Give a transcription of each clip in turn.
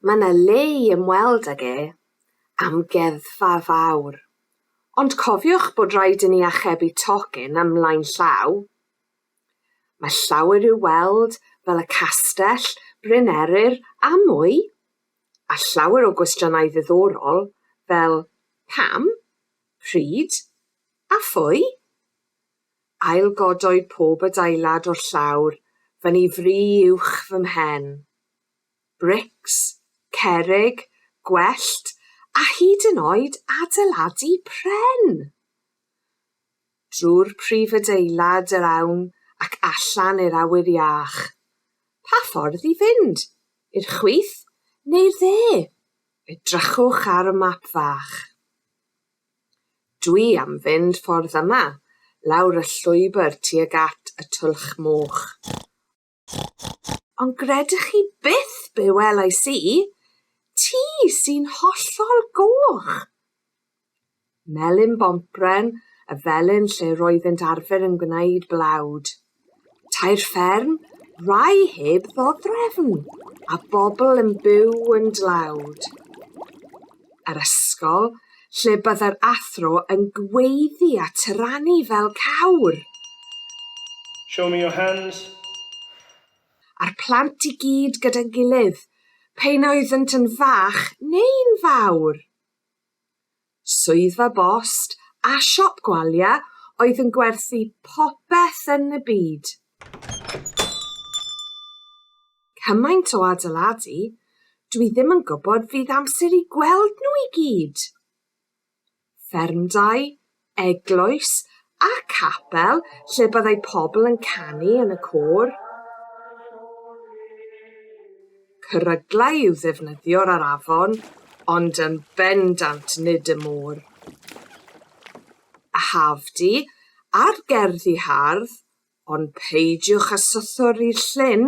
Mae yna le i ymweld ag e. Amgueddfa fawr. Ond cofiwch bod rhaid i ni achebu tocyn am lain llaw. Mae llawer i'w weld, fel y castell, Bryn Eryr a mwy. a llawer o gwestiynau ddiddorol fel 'pam', 'pryd', a 'phwy'. Ail-godoi pob adeilad o'r llawr fyny fri uwch fy mhen. Brics, cerrig, gwellt, a hyd yn oed adeiladu pren! drwy'r prif adeilad yr awn ac allan i'r awyr iach. Pa ffordd i fynd? I'r chwith neu'r dde? Edrychwch ar y map fach. Dwi am fynd ffordd yma, lawr y llwybr tuag at y Twlch Moch. Ond gredwch chi byth be welais i, ti sy'n hollol goch! Melyn bompren y felin lle roeddent arfer yn gwneud blawd. Tair fferm, rai heb ddodrefn, a bobl yn byw yn dlawd. yr ysgol, lle byddai'r athro yn gweiddi a tyrannu fel cawr! Show me your hands! A'r plant i gyd gyda'n gilydd, p'un oeddynt yn fach neu'n fawr! Swyddfa bost a siop gwalia oedd yn gwerthu popeth yn y byd. Cymaint o adeiladu, dwi ddim yn gwybod fydd amser i gweld nhw i gyd! Ffermdai, eglwys a capel lle byddai pobl yn canu yn y côr. Cyryglau i'w ddefnyddiwr ar afon, ond yn bendant nid y môr. A haf di, a'r gerddi hardd, Ond peidiwch â sythori Llyn,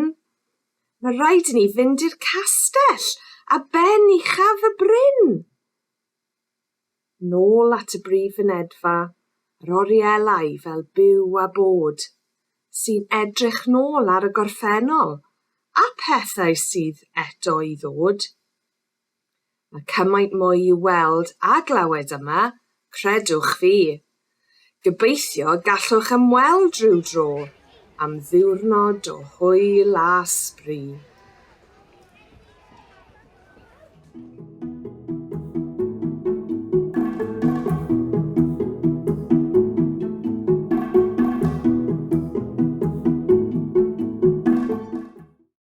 mae rhaid i ni fynd i'r castell, a ben uchaf y bryn! Nôl at y brif fynedfa, yr orielau fel byw a bod, sy'n edrych nôl ar y gorffennol, a phethau sydd eto i ddod. Mae cymaint mwy i'w weld a glywed yma, credwch fi! Gobeithio gallwch ymweld rhyw dro am ddiwrnod o hwyl a sbri.